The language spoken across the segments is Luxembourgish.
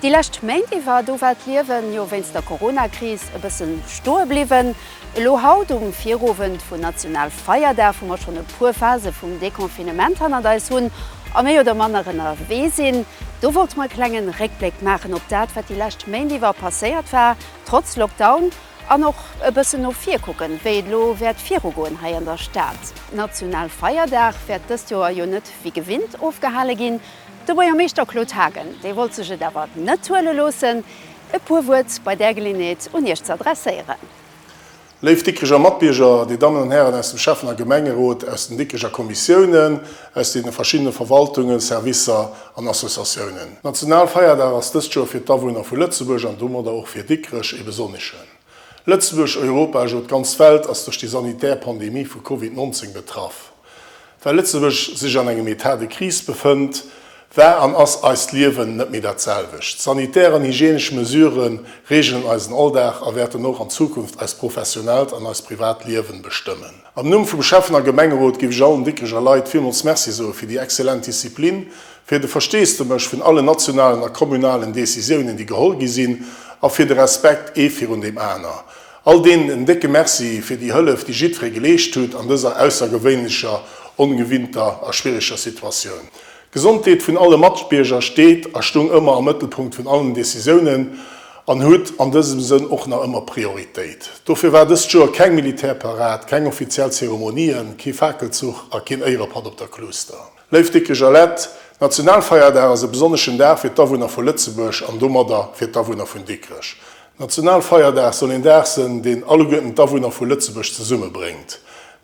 Déi lescht Méint iwwer, do war d'Liewen jo wéinst der Corona-Kris e bëssen stoe bliwwen. Elo haut um Virowend vun Nationalfeierdag, wou mer schonn e puer Phase vum Deconfinement hannert eis hunn a méi oder manner ënnerwee sinn, do wollte mer e klenge Réckbléck maachen op dat, wat déi lescht Méint iwwer passéiert war, trotz Lockdown, an och e bëssen no vir kucken, wéi et elo wäert virugoen hei an der Stad. Nationalfeierdag wäert dëst Joer jo net wéi gewinnt ofgehale ginn. De Buergermeeschter Claude Haagen, dee wollt sech et awer net huele loossen, e puer Wuert bei där Geleeënheet un Iech ze adresséieren. Léif Dikricher Matbierger, Dir Dammen an Hären aus dem Schäffen a Gemengerot, aus den Dikricher Kommissiounen, aus deene verschiddene Verwaltungen, Servicer an Associatiounen. Nationalfeierdag ass dëst Joer fir d'Awunner vu Lëtzebuerg an domadder och fir Dikrech ee besonneschen. Lëtzebuerg, Europa, ech elo d'ganz Welt ass duerch déi sanitär Pandemie vu Covid 19 betraff. Well Lëtzebuerg sech an engem Etat de crise befënnt, war an ass eist Liewen net méi dat selwecht. Sanitär an hygienesch Mesurë reegelen eisen Alldag a wäerten och an Zukunft eist professionellt an eist privat Liewen bestëmmen. Am Numm vum Schäffen a Gemengerot géif ech allen Dikricher Leit villmools Merci soe fir déi excellent Disziplin, fir de Versteesdemech vun allen nationalen a kommunalen Decisiounen, déi geholl gi sinn, a fir de Respekt ee virun deem aner. All deenen en décke Merci fir déi Hëllef, déi jiddweree geleescht hutt an dëser aussergewéinlecher, ongewinnter a schwiereger Situatioun. D'Gesondheet vun alle Matbierger steet a stoung ëmmer am Mëttelpunkt vun allen Decisiounen an huet an dësem Sënn och nach ëmmer Prioritéit. Dofir war dëst Joer keng Militärparad, keng offiziell Zeremonien, kee Fakelzuch a keen Éierepatt op der Kluuster. Léif Dickecher Lett, Nationalfeierdag ass e besonneschen Dag fir d'Awunner vu Lëtzebuerg an domadder fir d'Awunner vun Dikrech. Nationalfeierdag soll een Dag sënn, deen alleguerten d'Awunner vu Lëtzebuerg zesummebréngt.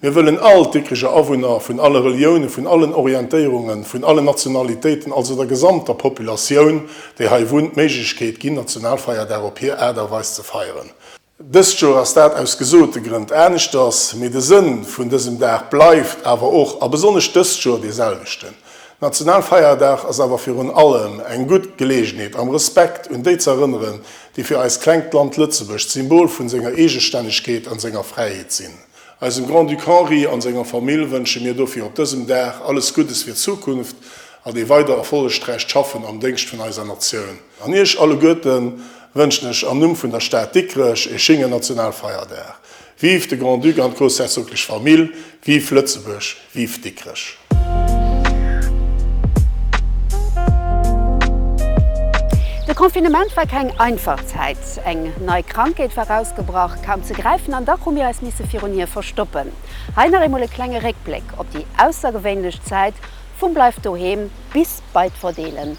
Mir wëllen all d'Dikricher Awunner, vun alle Reliounen, vun allen Orientéierungen, vun allen Nationalitéiten, also der gesamter Populatioun, déi hei wunnt, d'Méiglechkeet ginn, Nationalfeierdag op hir Aart a Weis ze feieren. Dëst Joer ass dat aus gesote Grënn aneschters, mee de Sënn vun dësem Dag bleift awer och a besonnesch dëst Joer dee selwechten. Nationalfeierdag ass awer virun allem eng gutt Geleegenheet am Respekt un déi z'erënneren, déi fir eist klengt Land Lëtzebuerg d'Symbol vun senger Eegestännegkeet an senger Fräiheet sinn. Eisem Grand-Duc Henri an senger Famill wënsche mir dofir op dësem Dag alles Guddes fir d'Zukunft an ee weider erfollegträicht Schaffen am Déngscht vun eiser Natioun. An Iech alleguerten wënschen ech am Numm vun der Stad Dikrech ee schéngen Nationalfeierdag. Vive de Grand-Duc an d'groussherzoglech Famill, vive Lëtzebuerg, vive Dikrech! De Confinement war keng einfach Zäit. Eng nei Krankheet war ausgebrach, kaum ze gräifen, an dach hu mir eis misse virun hir verstoppen. Hei nach eemol e klenge Réckbléck op déi aussergewéinlech Zäit vum Bleift doheem bis bei d'Verdeelen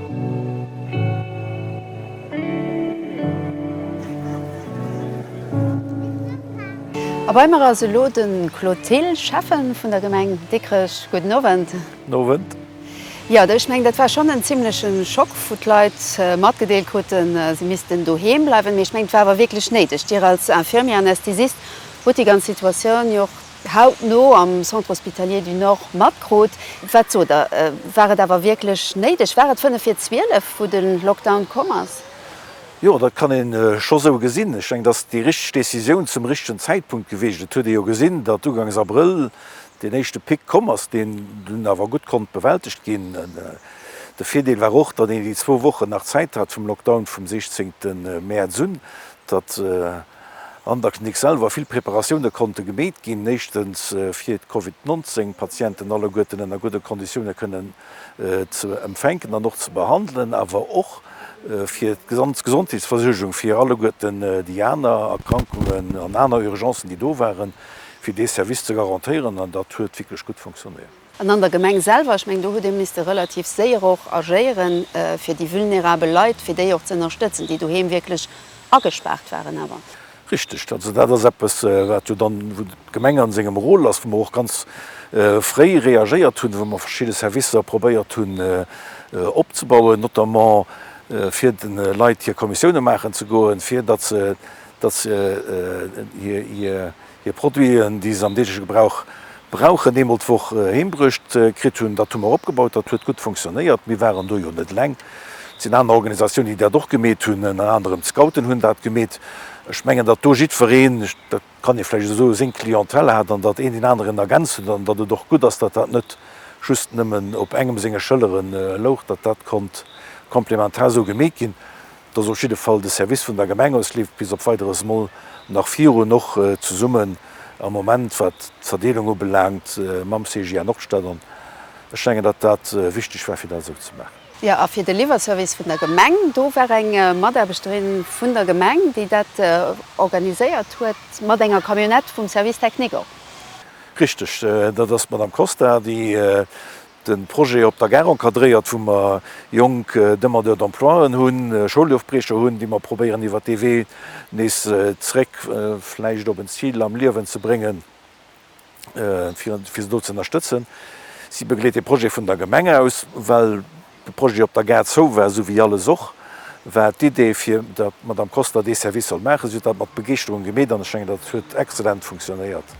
A bei mer ass elo de Claude Thill, Schäffe vun der Gemeng Dikrech. Gudden Owend. Gudden Owend. Jo, ech mengen, dat war schonn en zimleche Schock, wou d'Leit matgedeelt kruten, si missten doheem bleiwen. Mee ech mengen, et war awer wierklech néideg. Dir als Infirmier-Anästhesist hutt déi ganz Situatioun jo och hautno am Centre Hospitalier du Nord matkrut. Wat sot Der, war et awer wierklech néideg? War et fënnef vir zwielef, wou de Lockdown komm ass? Jo, dat kann ee scho sou gesinn. Ech denken, dat ass déi richteg Decisioun zum richtegen Zäitpunkt gewiescht. Et huet ee jo gesinn, datt ugangs Abrëll deen éischte Pic komm ass, deen dunn awer gutt konnt bewältegt ginn. De Virdeel war och, datt een déi zwou Wochen nach Zäit hat vum Lockdown vum 16 Mäerz un, datt. an der Klinik selwer vill Preparatioune konnte gemeet ginn, éischtens fir d'Covid 19 Patienten alleguerten ënner gudde Konditioune kënnen ze empfänken an och ze behandelen, awer och fir d'Gesondheetsversuergung fir alleguerten déi aner Erkrankungen an aner Urgencen, déi do waren, fir dee Service ze garantéieren, an dat huet wierklech gutt fonctionnéiert. An an der Gemeng selwer, ech mengen, do hutt Dir, misste relativ séier och agéieren, fir déi vulnerabel Leit, fir déi och ze ënnerstëtzen, déi doheem wierklech agespaart waren. Awer. Richteg. Also dat ass eppes, wat jo dann, wou d'Gemeng a sengem Rôle ass, wou mer och ganz fréi reagéiert hunn, wou mer verschidde Servicer probéiert hunn opzebauen, notamment fir de Leit hir Kommissiounen maachen ze goen, fir datt se, datt se hir, Hir Produiten, déi se am deegleche Gebrauch brauchen, eemol d'Woch heembruecht kritt hunn. Dat hu mer opgebaut, dat huet gutt funktionéiert. Mir waren do jo net eleng. Et sinn aner Organisatiounen, déi dat och gemeet hunn. Ënner anerem d'Scouten hunn dat gemeet. Ech mengen, datt do jiddwereen, dat kann ee vläicht esou soen, seng Clientèle hat an datt een deen aneren ergänzt huet an datt et och gutt ass, datt dat net just nëmmen op engem senge Schëllere louch, datt dat konnt komplementar esou gemeet ginn. dass op jidde Fall de Service vun der Gemeng aus Lift bis op Weideres mol nach virun och zesummen am Moment, wat d'Verdeelung ubelaangt, mam CGA Nordstad an ech mengen, datt dat wichteg war, fir dat esou ze maachen. Jo, a fir de Liwwerservice vun der Gemeng, do war eng Mataarbechterin vun der Gemeng, déi dat organiséiert huet, mat enger Camionnette vum Service technique och. Richteg, dat ass d'Madame Costa, déi De Projet op der Gare encadréiert, wou mer jonk Demandeurs d'emploien hunn, Schoulofbriecher hunn, déi mer probéieren iwwert dee Wee nees zréck vläicht op en Zil am Liewen ze bréngen, fir se do ze ënnerstëtzen. Si begleet dee Projet vun der Gemeng aus. Well de Projet op der Gare zou war, esou wéi alles och, war d'Idee fir der Madame Kostler dee Service soll maachen. Si huet dat mat Begeeschterung gemeet an ech mengen, datt et huet exzellent funktionéiert.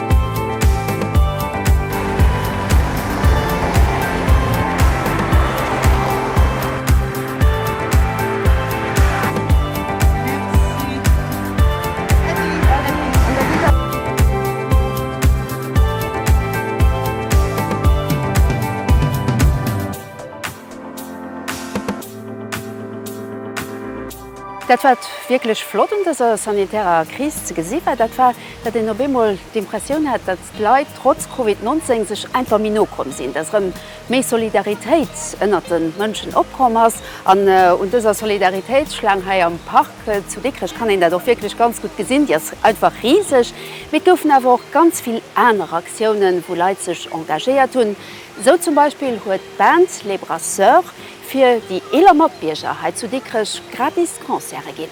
Dat wat wierklech flott un dëser sanitärer Kris ze gesi war, dat war, Datt een op eemol d'Impressioun hat, datt d'Leit trotz Covid 19 sech einfach méi no komm sinn, datt erëm méi Solidaritéit ënnert de Mënschen opkomm ass. An un dëser Solidaritéitsschlaang hei am Park zu Dikrech kann een dat och wierklech ganz gutt gesinn, déi ass einfach riseg. Mee et goufen awer och ganz vill aner Aktiounen, wou Leit sech engagéiert hunn. Esou zum Beispill huet d'Band Les Brasseurs fir déi eeler Matbierger hei zu Dikrech gratis Concerte ginn.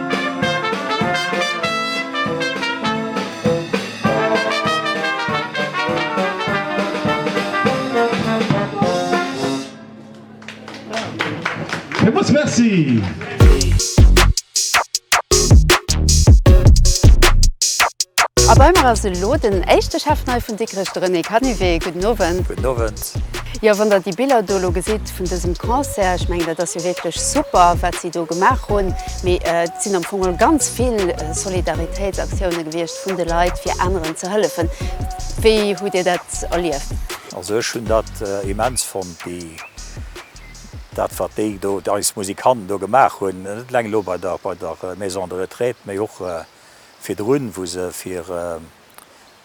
Villmols Merci! A bei mer ass elo den éischte Chef nei vun Dikrech, de René Canivet. Gudden Owend. Gudden Owend. Concert. Jo, wann der déi Biller do elo gesitt vun dësem Concert, ech mengen, dat ass jo wierklech super, wat si do gemaach hunn. Mee et sinn am Fong geholl ganz vill Solidaritéitsaktioune gewiescht vun de Leit, fir aneren ze hëllefen. Wéi hutt Dir dat erlieft? Also ech hunn dat immens fonnt, déi, dat wat déi do, eis Musikanten do gemaach hunn, net eleng elo bei der, bei der Maison de Retraite, mee och virdrun, wou se fir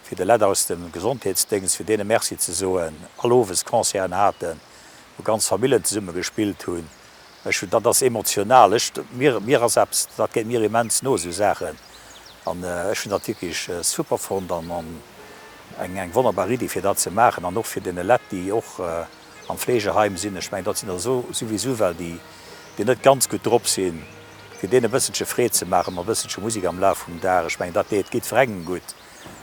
fir de Lett aus dem Gesondheetsdéngscht, fir deene Merci ze soen, all Owes Concerten haten, wou ganz Famillen zesumme gespillt hunn. Ech hunn, dat ass emotional, ech, mir, mir ass eppes, dat geet mir immens no, esou Saachen. An ech hunn dat wierklech super fonnt an eng, eng wonnerbar Iddi, fir dat ze maachen an och fir deene Lett, déi och am Fleegeheim sinn, ech mengen, dat sinn der esou souwisou ewell, déi, déi net ganz gutt drop sinn, fir deene e bësselche Freed ze maachen, mat e bësselche Musek am Laf vum Dag. Ech mengen, dat deet, geet virengen gutt.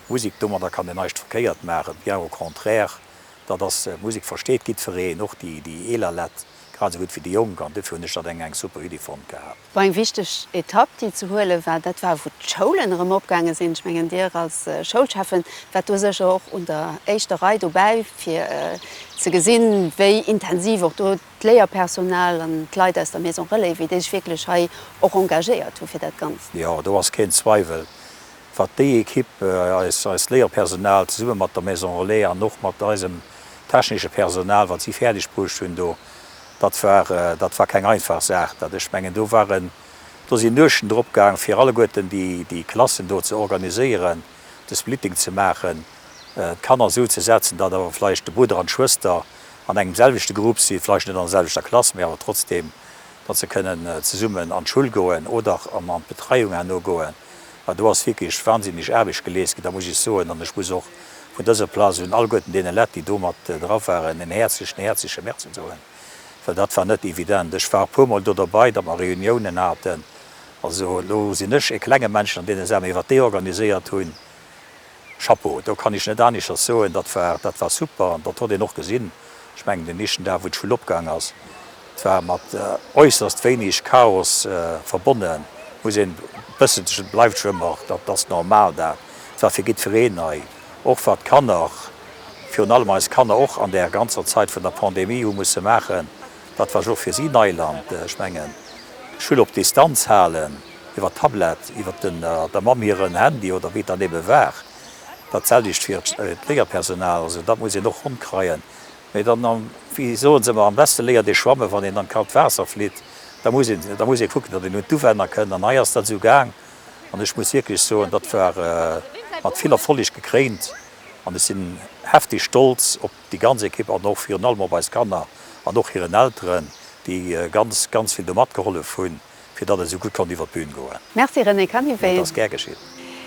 Musik, domadder kann een neischt verkéiert maachen, bien au contraire, datt ass Musik, versteet gidfereen, och déi déi eeler Lett grad esou gutt wéi déi Jonk, an duerfir hunn ech datt eng eng super Iddi fonnt gehat. War eng wichteg Etapp déi ze huele war. Dat war wou d'Schoulen erëm opgaange sinn. Ech mengen Dir als Schoulschäffen waart do sécher och un der éischter Rei dobäi fir ze gesinn wéi intensiv och do d'Léierpersonal an d'Leit aus der Maison Relais, wéi déi sech wierklech hei och engagéiert hu fir dat Ganzt. Jo, do ass keen Zweiwel. wat déi Ekipp, eist Léierpersonal zesumme mat der Maison Relais an och mat eisem technesche Personal, wat si fäerdeg bruecht hunn do, dat war, dat war keng einfach Saach. Dat, ech mengen, do waren, do sinn Nuechten drop gaang, fir alleguerten déi, déi Klassen do ze organiséieren, de Splitting ze maachen, d'Kanner esou ze setzen, datt awer vläicht de Brudder an d'Schwëster an engem selwechte Grupp sinn, vläicht net an der selwechter Klass, mee awer trotzdem, datt se kënnen zesummen an d'Schoul goen oder an d'Betreiung herno goen. an do ass wierklech wansinneg Aarbecht geleescht ginn, da muss ech soen, an ech muss och vun dëser Plaz un alleguerten deene Lett, déi do mat dra waren, en häerzlechen, häerzleche Merci soen, well dat war net evident. Ech war e puermol do derbäi, datt mer Reuniounen haten, also elo sinn ech e klenge Männchen an deene Saachen, mee wat déi organiséiert hunn, Chapeau, do kann ech net aneschters soen, dat war, dat war super an dat hott een och gesinn. Ech mengen den éischten Dag wou d'Schoul opgaang ass, et war mat äusserst wéineg Chaos verbonnen, muss een bëssen sech, et bleift jo ëmmer, dat ass normal, dat war fir gidfereen nei, och wat d'Kanner, virun allem eis Kanner och an där ganzer Zait vun der Pandemie hu musse maachen, dat war jo och fir si Neiland. Ech mengen, Schull op Distanz halen. iwwer d'Tablett, iwwer der Mamm hiren Handy oder wéi et dann ebe war, dat selwecht fir d'Léierpersonal. Also dat muss een och ronnkreien. Mee dann, wéi soe se ëmmer, am beste léiert ee schwammen, wann een an d'kalt Waasser flitt. Da muss een, da muss ee kucken, datt een un d'Uwänner kënnt. An hei ass dat esou gaang an ech muss wierklech soen, dat war mat vill Erfolleg gekréint an ech sinn hefteg stolz op déi ganz Ekipp an och virun allem op eis Kanner an och hiren Elteren, déi ganz, ganz vill do matgehollef hunn. fir datt et esou gutt konnt iwwer d'Bühn goen. Merci René Canivet. Dat ass gär geschitt.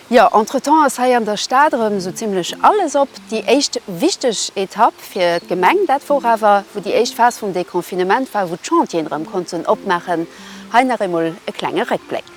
Jo, entretemps ass hei an der Stad erëm esou zimlech alles op. Déi éischt wichteg Etapp fir d'Gemeng, dat wor awer, wou déi éischt Phas vum Deconfinement war, wou d'Chantieren erëm konnten opmaachen. Hei nach eemol e klenge Réckbléck.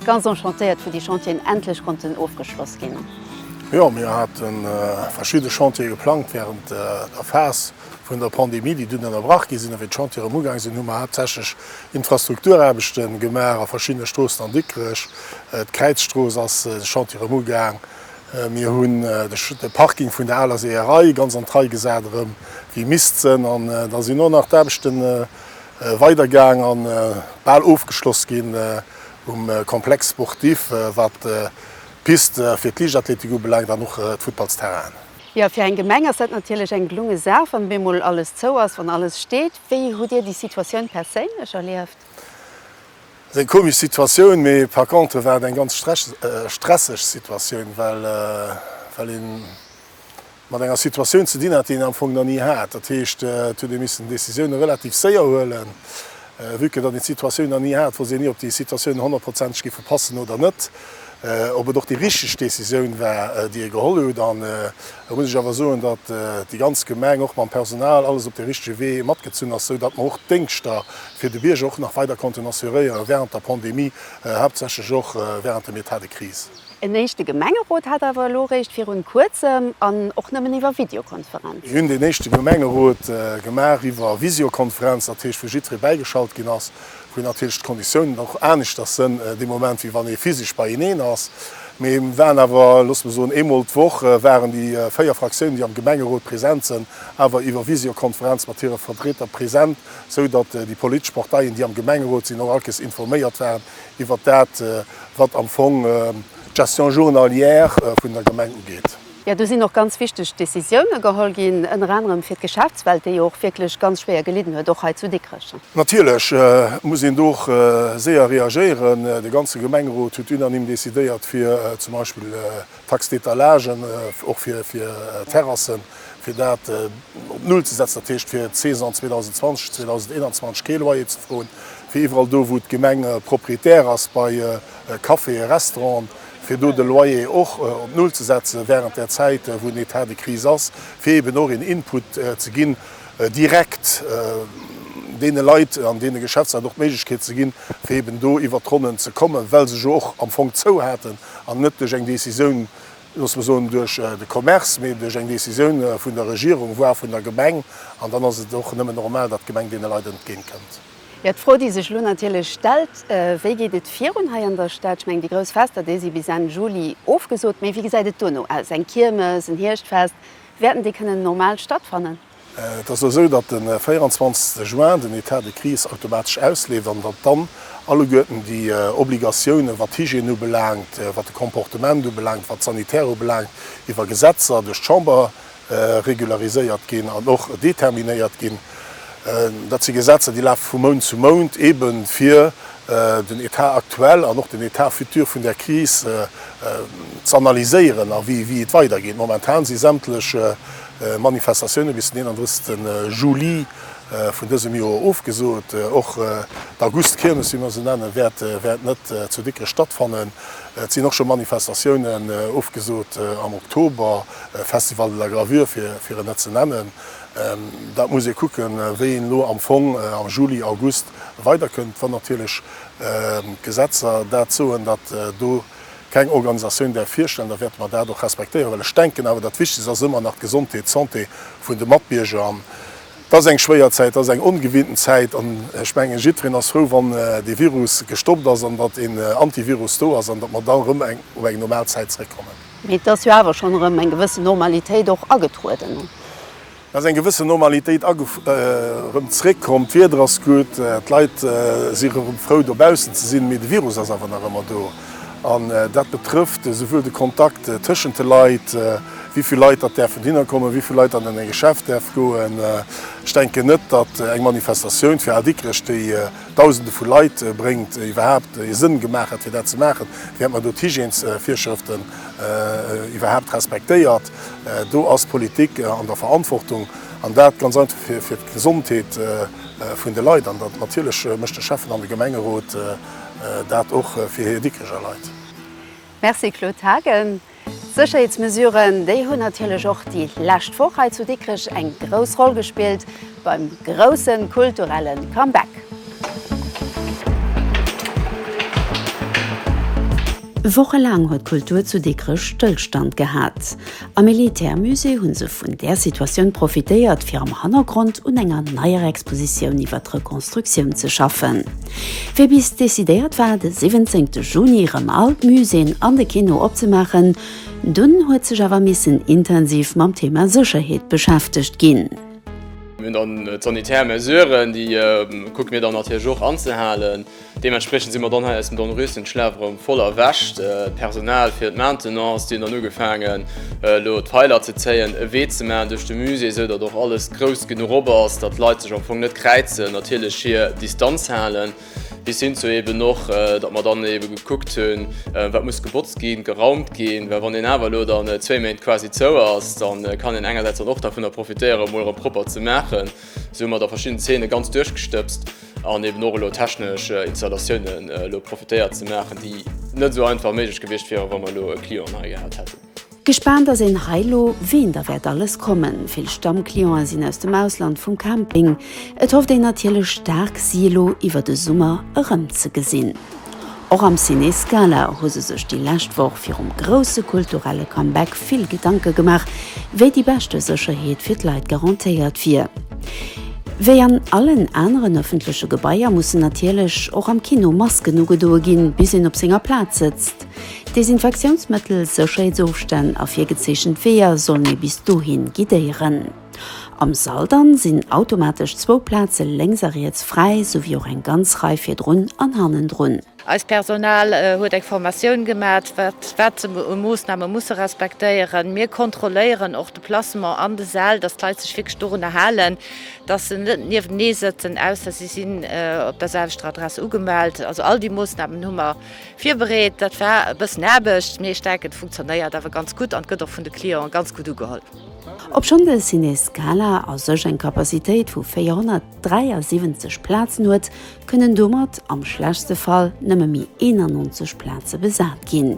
Ganz enchantéiert wou déi Chantieren endlech konnten ofgeschloss ginn. Jo, mir hate verschidde Chantiere geplangt wärend der Phas vun der Pandemie, déi dunn ënnerbrach gi sinn. A wéi d'Chantiere erëm ugaang sinn, hu mer haaptsächlech Infrastrukturaarbechte gemaach a verschiddene Stroossen an Dikrech. D'Kräizstrooss ass de Chantier erëm ugaang. Mir hunn de Parking vun der aler Seeërei ganz an d'Rei gesat, erëm wéi misst sënn. An da sinn och nach d'Aarbechte weidergaang a bal ofgeschloss ginn. um Complexe sportif, wat d'Pist fir d'Liichtathletik ubelaangt an och d'Futtballsterrainen. Jo, fir eng Gemeng ass dat natierlech eng gelunge Saach, wann op eemol alles zou ass, wann alles steet. Wéi hutt Dir déi Situatioun perséinlech erlieft? Ass eng komesch Situatioun, mee par contre war et eng ganz stresseg Situatioun, well een mat enger Situatioun ze dinn hat, déi een am Fong nach ni hat. Dat heescht, et huet ee missen Décisioune relativ séier huelen, vue que datt een d'Situatioun nach ni hat, wousst een ni, ob déi Situatioune honnertprozenteg géife passen oder net, ob et och déi richteg Décisioun war, déi ee geholl hutt. An elo muss ech awer soen, datt déi ganz Gemeng och mam Personal alles op de richtege Wee matgezunn ass, sou datt mer och d'Déngschter fir de Bierger och nach weider konnten assuréieren, während der Pandemie, haaptsächlech och während dem Etat de crise. En éischte Gemengerot hat awer elo eréischt virun kuerzem an och nëmmen iwwer Videokonferenz. Mir hunn deen éischte Gemengerot gemaach iwwer Visiokonferenz, dat heescht wou jidderee bäigeschalt ginn ass, wou natierlech d'Konditiounen och aneschters sënn dee Moment wéi wann ee physesch beieneen ass. Mee mir waren awer, loosse mer soen, eemol d'Woch waren déi véier Fraktiounen, déi am Gemengerot present sënn, awer iwwer Visiokonferenz mat hire Vertrieter present, sou datt déi politesch Parteien, déi am Gemengerot sinn, och allkes informéiert waren, iwwert dat, wat am Fong d'Gestion journalière vun der Gemeng ugeet. Jo, do sinn och ganz wichteg Décisiounen geholl ginn, ënner anerem fir d'Geschäftswelt, déi jo och wierklech ganz schwéier gelidden huet, och hei zu Dikrech. Natierlech muss een do och séier reagéieren. De ganze Gemengerot huet unanime decidéiert, fir zum Beispill Taxe d'étalage och fir Terrassen, fir dat op Null ze setzen, dat heescht fir d'Saison 2020, 2021 kee Loyer ze froen, fir iwwerall do, wou d'Gemeng Propriétaire ass, bei Caféë, Restauranten, fir do de Loyer och op Null ze setzen während där Zäit, wou en Etat de crise ass, fir eeben och een Input ze ginn direkt deene Leit an deene Geschäftsleit och d'Méiglechkeet ze ginn, fir eeben do iwwert d'Ronnen ze kommen, well se jo och am Fong zou haten an net duerch eng Décisioun, loosse mer soen, duerch de Commerce, mee duerch eng Décisioun vun der Regierung, voire vun der Gemeng, an dann ass et och nëmme normal, datt d'Gemeng deene Leit entgéintkënnt. Jo, d'Fro, déi sech elo natierlech stellt, Wéi geet et virun hei an der Stad? Ech mengen, déi grouss Fester, déi si bis Enn Juli ofgesot, mee wéi gesäit et duerno aus? Eng Kiermes, en Hierschtfest, wäerten déi kënnen normal stattfannen? Et ass elo esou, datt de 24 Juin den Etat de crise automatesch ausleeft an datt dann alleguerten déi Obligatiounen, wat d'Hygiène ubelaangt, wat de Comportement ubelaangt, wat d'Sanitär ubelaangt, iwwer Gesetzer duerch d'Chamber regulariséiert ginn an och determinéiert ginn. Dat si Gesetzer, déi lafe vu Mount zu Mount, eebe fir den Etat actuel an och den Etat futur vun där Kris z'analyséieren a wéi et weidergeet. Momentan si sämtlech. Manifestatioune bis den 31 Juli vun dësem Joer ofgesot. Och d'Augustkirmes, wéi mer se nennen, wäert net zu Dikrech stattfannen. Et sinn och scho Manifestatiounen ofgesot am Oktober, Festival de la Gravure fir en net ze nennen. Dat muss ee kucken, wéi een elo am Fong am Juli, August weiderkënnt, wann natierlech d'Gesetzer dat soen, datt do, Keng Organisatioun däerf virstellen, da wäerte mer dat och respektéieren, well ech denken awer, dat Wichtegst ass ëmmer nach d'Gesondheet, d'Santé vun de Matbierger. An et ass eng schwéier Zäit, et ass eng ongewinnten Zäit an ech mengen, jiddwereen ass frou, wann dee Virus gestoppt ass an datt een Antivirus do ass an datt mer da erëm op eng normal Zäit zeréckkommen. Mee et ass jo awer schonn erëm eng gewëssen Normalitéit och agetrueden. Et ass eng gewëssen Normalitéit erëm zréckkomm. D'Wieder ass gutt, d'Leit si erëm frou dobaussen ze sinn, mee de Virus ass awer nach ëmmer do. An dat betrëfft esouwuel de Kontakt tëschent de Leit, wéi vill Leit datt däerfen hinner kommen, wéi vill Leit datt an eng Geschäft däerf goen. Ech denken net, datt eng Manifestatioun fir Al Dikrech, déi Dausende vu Leit bréngt iwwerhaapt ee Sënn gemaach hat fir dat ze maachen, während mer do d'Hygiènesvirschrëften iwwerhaapt respektéiert. Do ass d'Politik an der Verantwortung, an dat ganz einfach fir d'Gesondheet vun de Leit. An natierlech mécht de Schäffen an de Gemengerot dat och fir hir Dikricher Leit. Merci Claude Haagen. D'Sécherheetsmesuren, déi hunn natierlech och déi lescht Woch hei zu Dikrech eng grouss Roll gespillt beim grousse kulturelle Comeback. Wochelaang huet d'Kultur zu Dikrech Stëllstand gehat. Am Militärmusée hu se vun där Situatioun profitéiert, fir am Hannergrond un enger neier Expositioun iwwer d'Rekonstruktioun ze schaffen. Wéi bis decidéiert war de 17 Juni erëm all d'Muséeën an de Kino opzemaachen, dunn huet sech awer missen intensiv mam Thema Sécherheet beschäftegt ginn. Mir hunn dann d'sanitär Mesuren, déi kucke mir dann natierlech och anzehalen. Deementspriechend si mer dann hei aus dem Dornröschenschlaf erëm voll erwächt. D'Personal fir d'Maintenance, déi hunn dann ugefaangen elo d'Peiler ze zéien, e Wee ze maachen duerch de Musée, esou datt och alles grouss genuch op ass, datt d'Leit sech am Fong net kräizen, natierlech hir Distanz halen, bis hin zu eeben och, datt mer dann eebe gekuckt hunn, wat muss gebotzt ginn, geraumt ginn, well wann een awer elo dann zwee Méint quasi zou ass, da kann een engersäits dann och dervunner profitéieren, emol erëm propper ze maachen. Esou hu mer da verschidden Zeene ganz duerchgestëbst. An eben och elo technesch Installatiounen elo profitéiert ze maachen, déi net esou einfach méiglech gewiescht wieren, wa mer elo e Client hei gehat hätten. Gespaant ass een hei elo, ween da wäert alles kommen. Vill Stammclienten sinn aus dem Ausland vum Camping. Et hofft een natierlech staark, si elo iwwer de Summer erëmzegesinn. Och am Ciné Scala hu se sech déi lescht Woch virum grousse kulturelle Comeback vill Gedanke gemaach, wéi déi beschte Sécherheet fir d'Leit garantéiert wier. Wéi an allen aneren ëffentleche Gebaier mussen natierlech och am Kino Masken ugedoe ginn, bis een op senger Plaz sëtzt. Desinfektiounsmëttel, Sécherheetsofstänn a virgezeechent Weeër sollen ee bis dohi guidéieren. Am Saldan sinn automatesch zwou Plaze lénks a riets fräi, souwéi och eng ganz Rei virdrun an hannendrun. Eist Personal huet eng Formatioun gemat, wat wat se u Moossname musse respektéieren. Mir kontrolléieren och de Placement an de Säll, dass d'Leit sech wierklech dorunner halen, dass se net nieftenee sëtzen, ausser si sinn op der selwechter Adress ugemellt. Also all déi Moossnamen hu mer virbereet. Dat war e bëssen Aarbecht, mee ech denken, et funktionéiert awer ganz gutt an et gëtt och vun de Clienten ganz gutt ugeholl. Obschonn de Ciné Scala a sech eng Capacitéit vu 473 Plazen huet, kënnen domat am schlechtste Fall nëmme méi 91 Plaze besat ginn.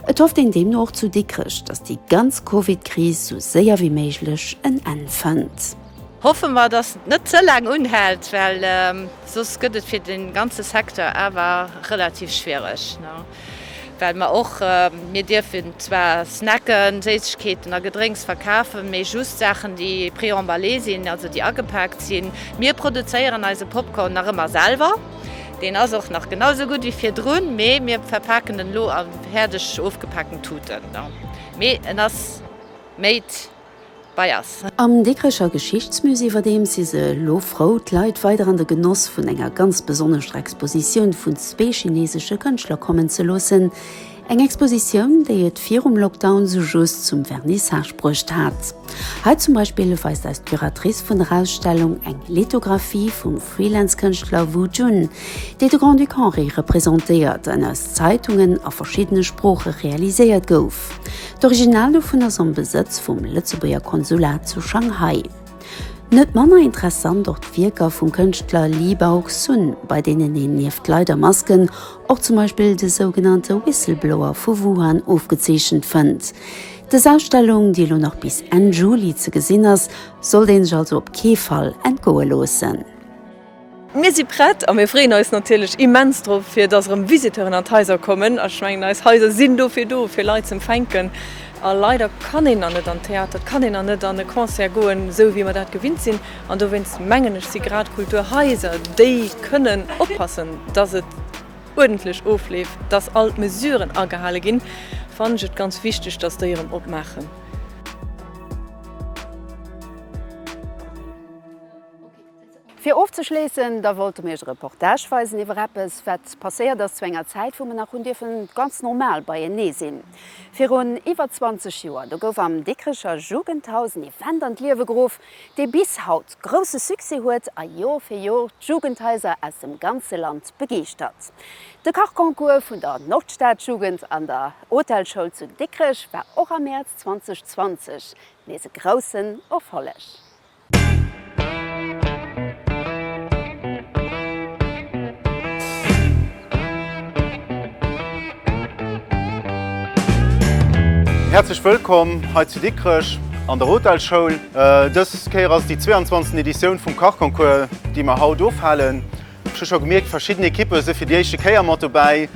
Et hofft een deemno och zu Dikrech, datt déi ganz Covid-Kris sou séier wéi méiglech en Enn fënnt. Hoffe mer, datt et net ze laang unhält, well soss gëtt et fir de ganze Secteur awer relativ schwiereg. Well mer och, mir dierfen zwar Snacken, Séissegkeeten a Gedrénks verkafen, mee just Saachen, déi pré-emballé sinn, also déi agepaakt sinn. Mir produzéieren eise Popcorn nach ëmmer selwer. Deen ass och nach genau esou gutt wéi virdrun, mee mir verpaken en elo a fäerdeg ofgepaakten Tuten. Mee en ass made. bei ass. Am Dikrecher Geschichtsmusée iwwerdeems si se elo frou, d'Leit weider an de Genoss vun enger ganz besonnescher Expositioun vun zwee chineesesche Kënschtler kommen ze loossen. Eng Expositioun, déi et virum Lockdown esou just zum Vernissage bruecht hat. Hei zum Beispill weist eis d'Curatrice vun der Ausstellung eng Lithographie vum. Freelance-Kënschtler Wu Jun, dee de Grand-Duc Henri representéiert an aus Zeitungen a verschiddene Sprooche realiséiert gouf. D'Original dovun ass am Besëtz vum Lëtzebuerger Konsulat zu Shanghai. Net manner interessant och d'Wierker vum Kënschtler Li Baoxun, bei deenen een nieft Leit a Masken och zum Beispill de sougenannte Whistleblower vu Wuhan ofgezeechent fënnt. Dës Ausstellung, déi elo nach bis Enn Juli ze gesinn ass, Sollt een sech also op kee Fall entgoe loossen. Mir si prett a mir freeën eis natierlech immens drop, fir dass erëm Visiteuren an d'Haiser kommen. Ech mengen, eis Haiser sinn dofir do, fir Leit z'empfänken. A leider kann een dann net an d'Theater, et kann een dann net an e Concert goen, esou wéi mer dat gewinnt sinn. An dowéinst mengen ech, si grad d'Kulturhaiser, déi kënnen oppassen, dass et uerdentlech ofleeft, dass all d'Mesuren agehale ginn, fannen ech et ganz wichteg, dass déi erëm opmaachen. Fir ofzeschléissen, da wollte mir iech e Reportage weisen iwwer eppes, wat passéiert ass zu enger Zäit, wou mer nach hunn dierfen ganz normal beienee sinn. Virun iwwer 20 Joer, do gouf am Dikricher Jugendhaus en Event an d'Liewe geruff, dee bis haut grousse Succès huet a Jor fir Jor d'Jugendhaiser aus dem ganze Land begeeschtert. De Kachconcours vun der Nordstadjugend an der Hotelschoul zu Dikrech war och am Mäerz 2020 nees e groussen Erfolleg. Häerzlech wëllkomm hei zu Dikrech an der Hotelschoul. Dës Kéier ass et déi 22. Editioun vum Kachconcours, déi mer haut ofhalen. Ech hu scho gemierkt, verschidden Ekippe si fir déi éischte Kéier mat dobäi.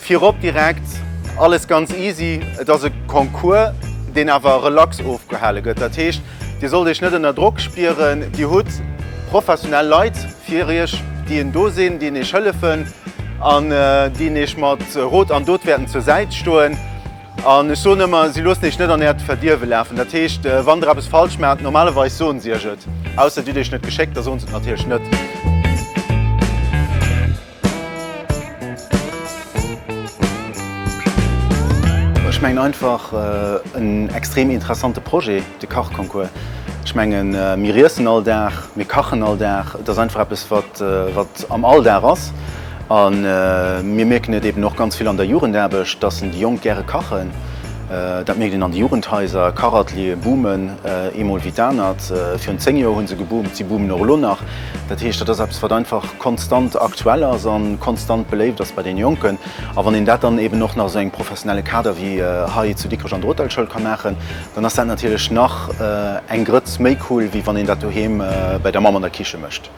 Virop direkt, alles ganz easy. Et ass e Concours, deen awer relax ofgehale gëtt. Dat heescht, Dir sollt Iech net ënner Drock spieren. Dir hutt professionell Leit fir Iech, déi en do sinn, déi en Iech hëllefen an déi en Iech mat Rot an Dot wäerten zur Säit stoen. An ech soen ëmmer, si loossen Iech net an Äert Verdierwe lafen. Dat heescht, wann Der eppes falsch maacht, normalerweis soen si Iech et. Ausser et huet Iech net geschéckt, da soen se et natierlech net. Ech mengen einfach, en extrem interessante Projet. De Kachconcours, ech mengen, mir iessen all Dag, mir kachen all Dag. Et ass einfach eppes, wat, wat am Alldag ass. A mir mierken et eeben och ganz vill an der Jugendaarbecht, dass en déi Jonk gäre kachen. Dat mierkt een an de Jugendhaiser. Kachateliere boomen ee Mol wéi d'anert. Virun zéng Joer hu se geboomt, si boomen och elo nach. Dat heescht, dat ass eppes, wat einfach konstant aktuell ass a konstant beléift ass bei den Jonken. A wann een dat dann eeben och nach esou engem professionelle Kader wéi hei zu Dikrech an der Hotelschoul ka maachen, Dann ass dat natierlech nach eng Grëtz méi cool wéi wann een dat doheem bäi der Mamm an der Kiche mécht.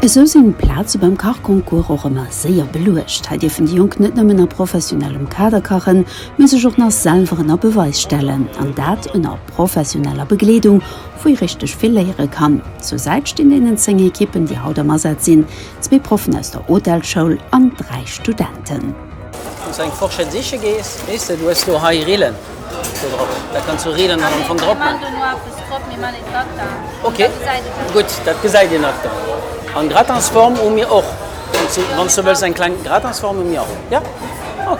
Esou sinn d'Plaze beim Kachconcours och ëmmer séier beluecht. Hei dierfen déi Jonk net nëmmen a professionellem Kader kachen, mee sech och nach selwer ënner Beweis stellen, an dat ënner professioneller Begleedung. wou ee richteg vill léiere kann. Zur Säit stinn deenen 10 Ekippen, déi haut am Asaz sinn, zwee Proffen aus der Hotelschoul an dräi Studenten. Wann s du eng Fourchette siche gees, weess de, du hues do hei Rillen do drop, da kanns du Rillen am Fong drop maachen. Ok, gutt, dat gesäit een nach dann. An Gratinsform hu mir och, wann s du wëlls, eng kleng Gratinsform hu mir och, jo? Ok.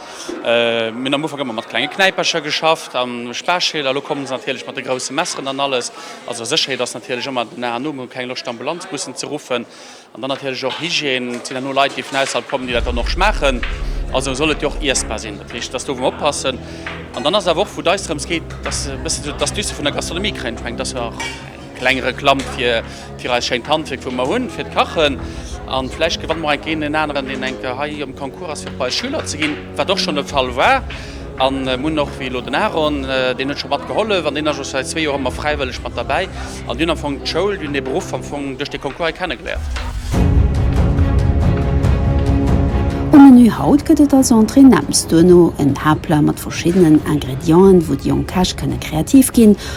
Mir hunn am Ufank ëmmer mat klenge Knäipercher geschafft a Spaaschäler. Elo kommen se natierlech mat de grousse Messeren an alles. Also Sécherheet ass natierlech ëmmer den A an O. Mir hu keng Loscht Ambulanzbussen ze ruffen. An dann natierlech och Hygiène. Et sinn herno Leit déi vun ausserhalb kommen, déi dat dann och schmaachen. Also soll et jo och iessbar sinn. Dat heescht, dass do wou mer oppassen. An dann ass et awer och, wou d'Eis drëms geet, dass e bësse sou d'Astuce vun der Gastronomie kréien. Ech mengen, dass se och. Kleng Reklamm fir fir eist schéint Handwierk wou mer hunn fir d'Kachen. An vläicht gewanne mer enk een en aneren deen enk hei am Concours ass fir bei eis Schüler ze ginn, wat och schonn de Fall war. An mer hunn och wéi elo den Aaron, deen huet scho mat gehollef an deen ass och säit zwee Joer ëmmer fräiwëlleg mat derbäi. An déi hunn am Fong d'Schoul, déi hunn de Beruff am Fong duerch dee Concours hei kenne geléiert. Um Menü haut gëtt et als Entrée Nems, duerno en Haaptplat mat verschiddenen Ingredienten, wou déi jonk Käch kënne kreativ ginn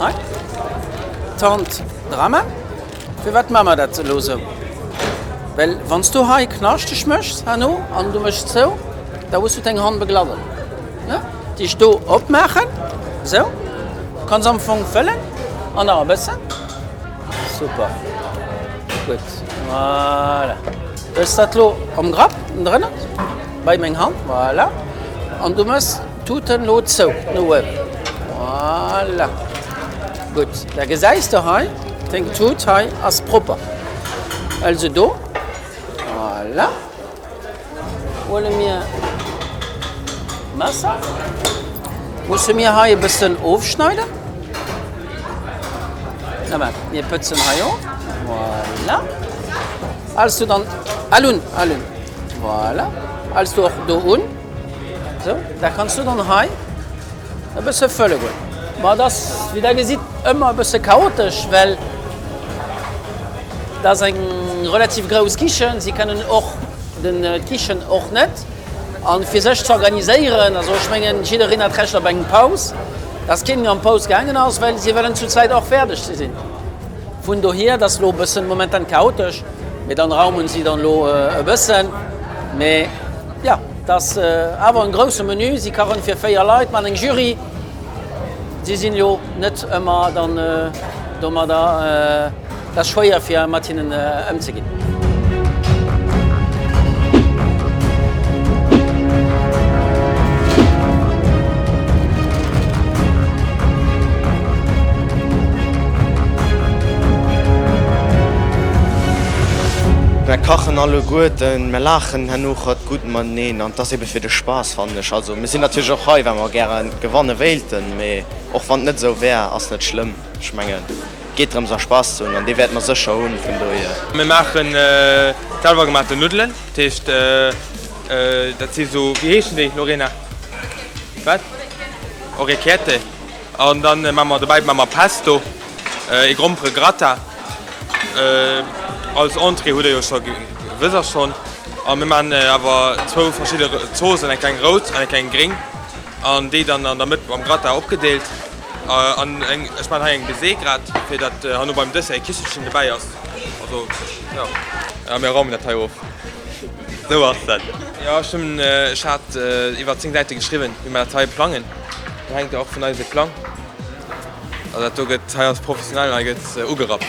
Hei d'Tante Drama, firwat man mer dat elo sou? Well wann s du hei knaschteg méchs herno an du méchs zou, da hues du deng Hand beglawen, ne? Déi ech do opmaachen, sou, kanns am Fong fëllen an nach e bëssen. Super, gutt, voilà. Hues dat elo am Grapp drënner bei meng Hand, voilà, an du méchs. Tuten lo zou no uewen. Voilà. Gutt, da gesäis de hei, deng Tut hei ass propper. Also do. Voilà. Huele mir d'Messer. Musse mir hei e bëssen ofschneiden. Na mä, mir pëtzen hei of. Voilà. Als du dann. Al un, al un. Voilà. Als du och do un. Sou, da kanns du dann hei e bësse fëlle goen. Ma et ass, wéi der gesitt, ëmmer e bësse chaotesch, well et ass eng relativ grouss Kichen. Si kënnen och de Kichen och net a fir sech ze organiséieren. Also ech mengen, jiddereen hat d'Recht op eng Paus. Datt kee méi an d'Paus gaangen ass, well si wëllen zu zwäit och fäerdeg ze sinn. Vun dohier, et ass elo e bëssen momentan chaotesch, mee dann raumen si dann elo e bëssen. Mee. Jo, et ass awer en groussen Menü. Si kachen fir 4 Leit mat eng Jury. Si sinn jo net ëmmer dann domadder. Et ass schwéier fir mat hinnen ëmzeginn. Mer kachen alleguerten, mer laachen. Genuch hat gutt mateneen an et ass ebe fir de Spaass, fannen ech. Also mir sinn natierlech och hei, well mer gäre gewanne wéilten, mee och wann et net esou wär, ass net schlëmm. Ech mengen, et geet drëms a Spaass ze hunn an dee wäerte mer sécher hunn, vun dohier. Mir maachen selwer gemaachten Nuddelen, dat heescht dat si sou, wéi heeschen déi, Lorena? Wat? Orecchiette? An dann maan mer dobäi maan mer Pesto, ee grompere Gratin, als Entrée hudd der jo schon gewëss ass schon. An mir maan awer zwou verschidde Zoosen, eng kleng roud an eng kleng gring, an déi dann an der Mëtt mam Gratin opgedeelt. An eng, ech maan hei eng Baiser grad fir dat hanno beim Dessert ee Kichelchen dobäi ass, also jo. A mir raumen dat hei of, sou ass dat. Jo ech hun, ech haat iwwert 10 Säite geschriwwen wéi mer dat hei plangen. Et hänkt och vun eise Plang a dat do gëtt hei als professionell hei gëtt ugerappt.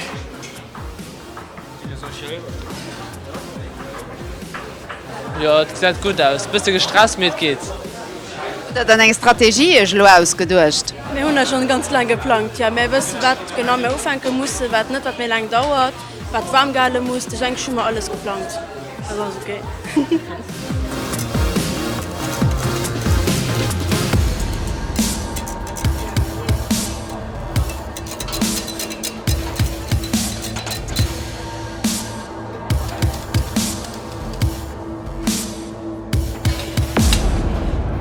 Jo et gesäit gutt aus, bësse gestresst mee et geet. Hutt der dann eng Strategie iech elo ausgeduecht? Mir hunn dat schonn ganz laang geplangt, jo. Mä wësse wat genau mir ufänke mussen, wat net, wat méi laang dauert. Wat waarm gehale muss, de Jenk Schummer alles geplangt, dat ass ok.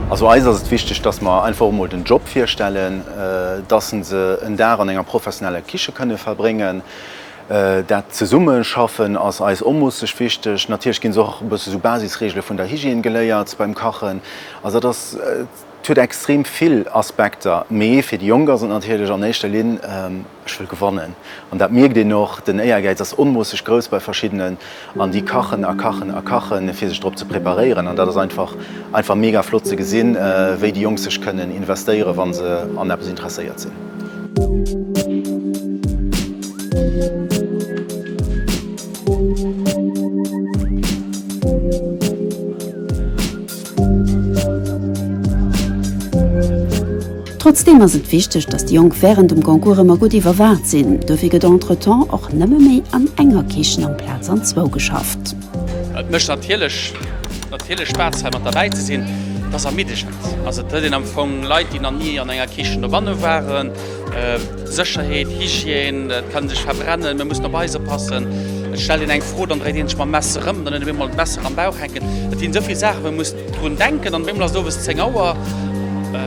Also eis ass et wichteg, dass mer einfach emol den Job virstellen, dass se en Dag an enger professioneller Kiche kënne verbréngen. Dat Zesummeschaffen ass eis onmoosseg wichteg. Natierlech ginn se och e bësse sou Basisreegele vun der Hygiène geléiert beim Kachen. Also dat ass, et huet extrem vill Aspekter, mee fir déi Jonk ass et natierlech an éischter Linn, ech wëll gewannen. An dat mierkt een och, den Éiergäiz ass onmoosseg grouss bei verschiddenen. An déi kachen a kachen a kachen, fir sech drop ze preparéieren. An dat ass einfach, einfach mega flott ze gesinn, wéi déi Jonk sech kënnen investéieren, wa se an eppes interesséiert sinn. Trotzdeem ass et wichteg, datt déi Jonk wärend dem Concours ëmmer gutt iwwerwaacht sinn. Dofir gëtt entretemps och nëmme méi an enger Kichen amplaz an zwou geschafft. Et mécht natierlech Spaass hei mat derbäi ze sinn. Et ass ermiddegend. Also et huet een am Fong Leit, déi nach ni an enger Kichen dobanne waren. Sécherheet, Hygiène, et kann sech verbrennen, mir mussen op eis oppassen. Et stellt een eng Fro, dann dréit een sech mam Messer erëm, dann huet een op eemol d'Messer am Bauch hänken. Et sinn esou vill Saachen, wou ee muss drun denken an op eemol ass et owes 10 Auer,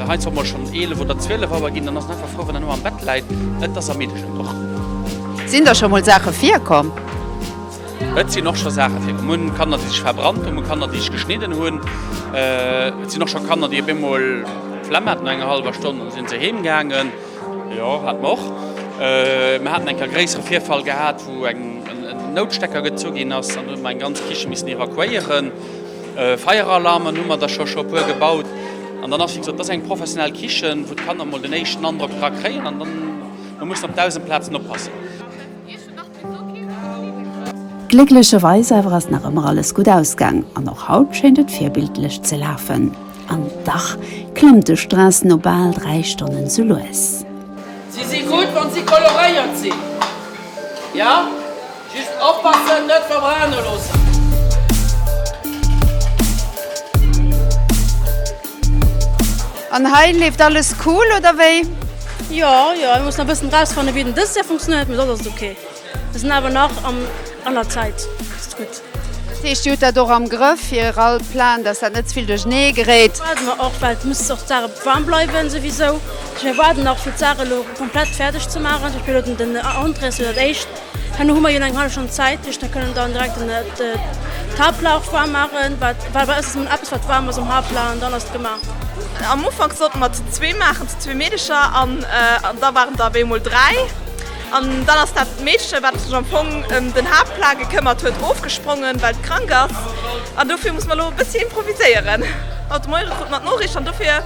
heiansdo och mol schonn 11 oder 12 Auer ginn, dann ass een einfach frou, wann een erëm am Bett läit. Et ass ermiddeschend och. Sinn der scho mol Saache virkomm? Et sinn och scho Saache virkomm, Kanner déi sech verbrannt hunn, Kanner déi sech geschnidden hunn. Et sinn och scho Kanner déi op eemol Flemm haten no enger hallwer Stonn, an da sinn se heem gaangen. Jo, haten mer och. Mer haten eng Kéier e gréissere Virfall gehat, wou en Noutstecker gezu ginn ass, an do hu mer eng ganz Kiche missen evakuéieren. Feieralarmen hu mer der scho scho e puer gebaut. An dann ass, wéi gesot, dat ass eng professionell Kichen, wou d'Kanner emol den éischten Androck dra kréien, an dann mussen mer op dausend Plazen oppassen. Glécklecherweis awer ass nach ëmmer alles gutt ausgaang an och haut schéint et virbildlech ze lafen. An dach klammt de Stress no bal 3 Stonnen sou lues. Si si gutt wann si koloréiert sinn, jo, just oppassen net verbrane loossen. An hei leeft alles cool oder wéi? Jo, jo, mir mussen nach bëssen rausfannen wéi den dëst Jahr funktionéiert, mee soss ass et ok. Mir sinn awer nach am an der Zäit, ass et gutt. Dat heescht dir hutt dat och am Grëff fir all Plan, dass dat net zevill duerchnee geréit? Dat waarde mer och, well et muss och d'Saach warm bleiwen souwisou. Mir waarden nach fir d'Saach elo komplett fäerdeg ze maachen, zum Beispill elo den Entrée, dat ass jo dat éischt. Herno hu mer jo nach eng hallef Stonn Zäit, dat heescht, mer kënnen dann direkt den Haaptlauch waarm maachen, wat, well bei eis ass ëmmer eppes, wat waarm ass am Haaptlauch an dann ass et gemaach. Am Ufank sollten mer zu zwee maachen, zu zwee Meedercher an da waren der op eemol dräi an dann ass dat Meedche, wat sech am Fong ëm den Haaptplat gekëmmert huet, ofgesprongen, well et krank ass an dofir musse mer elo e bëssi improviséieren. Haut de Moie krute mer d'Noriicht an dofir.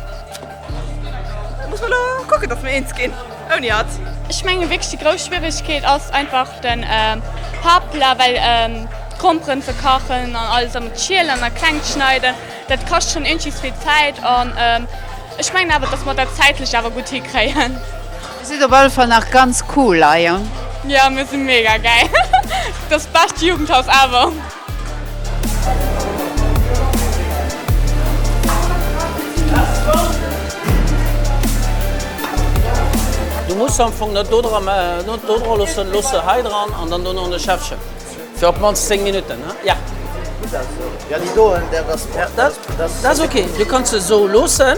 Muss mer lo kucken dass mer eens ginn ouni hatt. Ech menge wierklech déi grouss Schwieregkeet ass einfach den Pappla, well d'Gromperen ze kachen an alles an ze schielen a kleng ze schneiden, dat kascht schonn eenges vill Zäit an ech mengen awer dass mer dat zäitlech awer gutt hikréien. Dir sidd op alle Fall nach ganz cool hei. Jo, mir si mega gäil, dat bescht Jugendhaus ever! Du muss am Fong net do dra mä net do dra loossen. Looss se hei dran an dann dono an de Schäffchen. Fir op d'mannst 10 Minutten, ne? Ja. Dat ass ok. Du kanns se esou loossen.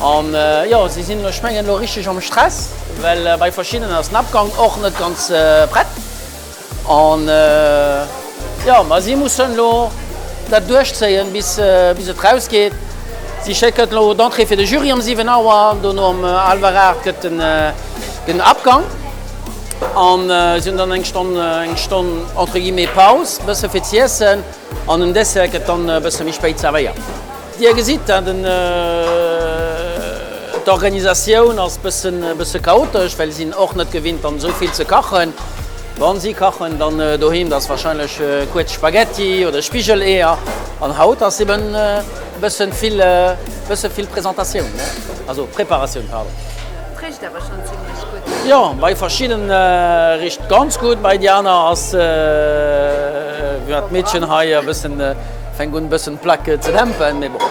An jo, si sinn ech mengen elo richteg am Stress, well bei verschiddenen ass den Abgang och net ganz prett. An jo, ma si mussen elo dat duerchzéien, bis et rausgeet. Si schécken elo d'Entrée fir de Jury ëm 7 Auer, dono ëm hallwer 8 gëtt den Abgang. An si hunn dann eng Stonn, eng Stonn entre guillemets Paus, e bësse fir z'iessen. An den Dessert gëtt dann e bësse méi spéit zervéiert. Dir gesitt dat, d'Organisatioun ass e bësse chaotesch, well si sinn och net gewinnt dann esou vill ze kachen. Wa si kachen dann doheem, da ass warscheinlech kuerz Spaghetti oder Spigeleeër. An haut ass eben e bësse vill, e bësse vill Presentatioun, ne? Also Preparatioun, pardon. Richt awer schonn zimlech gutt. Jo, bei verschidde richt ganz gutt, bei déi aner ass, wéi war d'Meedchen hei, e bëssen. Fänk un bëssen d'Plaque ze dämpen, mee bon,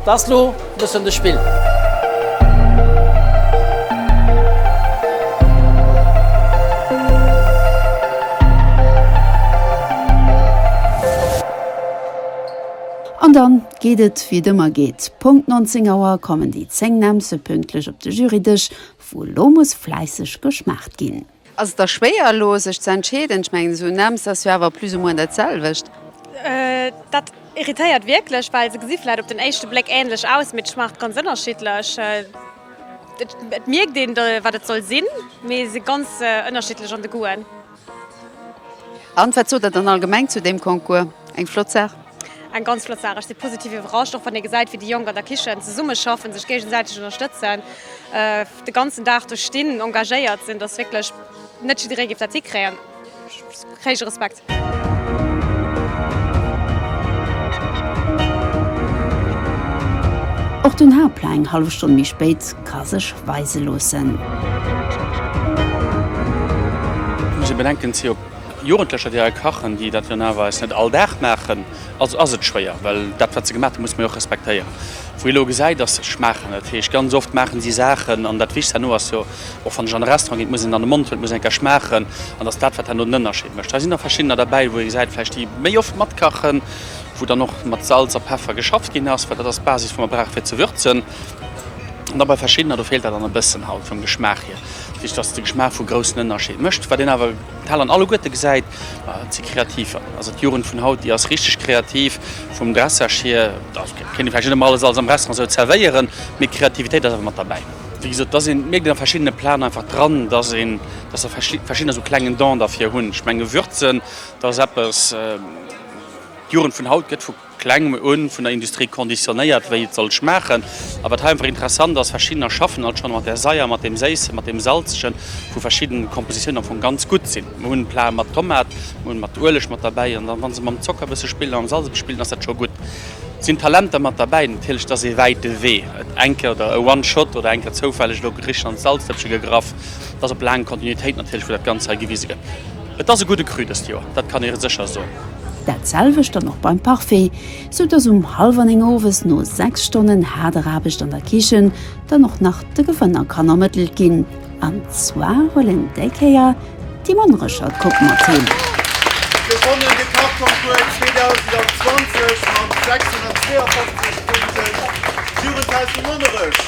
et ass lo bëssen de Spill. An dann geet et wéi et ëmmer geet, Punkt 19 Auer kommen déi 10 Nämmse pünktlech op de Jurydësch, wou lo muss fläisseg geschmaacht ginn. Ass et da schwéier elo sech ze entscheeden? Ech mengen esou un Ems ass jo awer plus ou moins dat selwecht. Dat irritéiert wierklech, well se gesi vläit op den éischte Bléck änlech aus, mee d'Schmacht ganz ënnerschiddlech. Et mierkt een, wat et soll sinn, mee se ganz ënnerschiddlech an de Goûten. An wat sot der dann allgemeng zu deem Concours? Eng flott Saach? Eng ganz flott Saach. Ech si positiv iwwerrascht, och wann ee gesäit, wéi déi Jonk an der Kichen zesummeschaffen, sech géigesäiteg ënnerstëtzen. de ganzen Dag do stinn, engagéiert sinn, dass wierklech net jidderee géif dat hikréien, héije Respekt. Och den Haaptplat eng hallef Stonn méi spéit ka sech weise loossen. Ech muss e bedenken, et si jo Jugendlecher, déi hei kachen, déi dat jo naerweis net all Dag maachen. Also ass et schwéier, well dat wat se gemaach hunn, muss mer jo och respektéieren. Wou ee elo gesäit, dass se schmaachen, dat heescht ganz oft maachen si Saachen, an dat Wichtigst herno ass jo och, wann ech an e Restaurant geet, muss een an de Mond huelen, et muss een eng Kéier schmaachen, an dass dat wat herno den Ënnerscheed mécht. Hei sinn der verschiddener derbäi, wou ee gesäit vläicht, déi méi oft matkachen, wou dann och mat Salz a Peffer geschafft ginn ass, well dat ass d'Basis wou mer brauche fir ze würzen, an da bei verschiddener do feelt dat dann e bëssen halt vum Geschmaach hier, dat heescht dass de Geschmaach vu groussen Ënnerscheed mécht, wat een awer. D'Hal an alleguerte gesäit, et si kreativ, also d'Jugend vun haut, déi ass richteg kreativ vum Dressage hier. Da kéint ee vläicht net ëmmer alles alles am Restaurant esou zerwéieren, mee d'Kreativitéit ass awer mat derbäi. Wéi gesot, dass een mierkt et a verschiddene Platen einfach dran, dass een, dass der verschi verschiddener esou klengen Don derfir hunn. Ech menge Würzen, dat ass eppes, d'Jugend vun haut gëtt vu. kleng u vun der Industrie conditionnéiert, wéi et soll schmaachen. A wat hei einfach interessant ass, verschiddener schaffen alt schonn mat där Saier, mat deem Séissen, mat deem Salzegen, wou verschidden Kompositiounen am Fong ganz gutt sinn. Mir hunn Plate mat Tomat, mir hunn mat Ueleg mat derbäi an dann, wa se mam Zocker e bësse spillen a mam Salz e bësse spillen, ass dat scho gutt. Et sinn Talenter mat derbäi. Natierlech, et ass ee wäite Wee. Et eng Kéier oder e one shot oder eng Kéier zoufälleg elo Gericht an d'Salzdëppche gegraff. Et ass op laang Kontinuitéit natierlech, wou dat Ganzt hei gewise gëtt. Et ass e gudde Cru dëst Joer, dat kann ee sécher soen. Dat selwecht dann och beim Parfait, sou dass um hallwer 9 owes no 6 Stonnen haarder Aarbecht an der Kichen dann och nach de Gewënner kann ermëttelt ginn. An zwar huel en déi Kéier déi mann Rëschert Kupp mat heem. Gewonnen de Kachconcours 2020 mat 652 Punkten d'Jugendhaus vu Monnerech.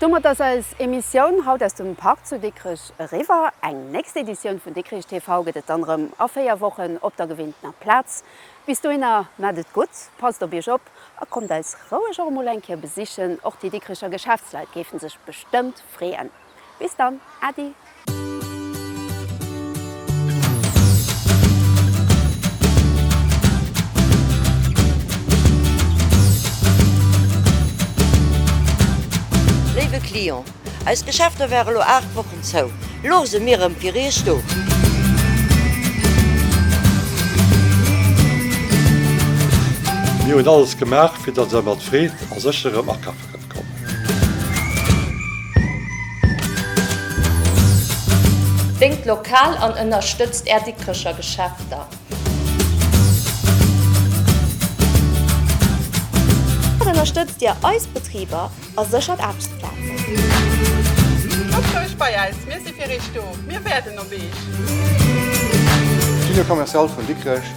Domat ass eis Emissioun haut aus dem Park zu Dikrech eriwwer. Eng nächst Editioun vun Dikrich TV gëtt et dann erëm a 4 Wochen op der gewinntener Plaz. Bis dohinner maacht et gutt, passt op iech op a kommt eis roueg och emol eng Kéier besichen. Och déi Dikricher Geschäftsleit géifen sech bestëmmt freeën. Bis dann, Äddi! Léiwe Client, eis Geschäfter ware lo 8 Wochen zou. Lo se mir rëm fir Iech do. Mir hunn alles gemaach fir datt der mat Freed a Sécherem akafe Déngt lokal an ënnerstëtzt Är Dikkrecher Geschäfter! Mat ënnerstëtzt Dir eis Betriber a séchert Aarbechtsplazen! Kommt roueg bei eis, mir si fir Iech do, mir wäerden op Iech! D'Union Commerciale vun Dikrech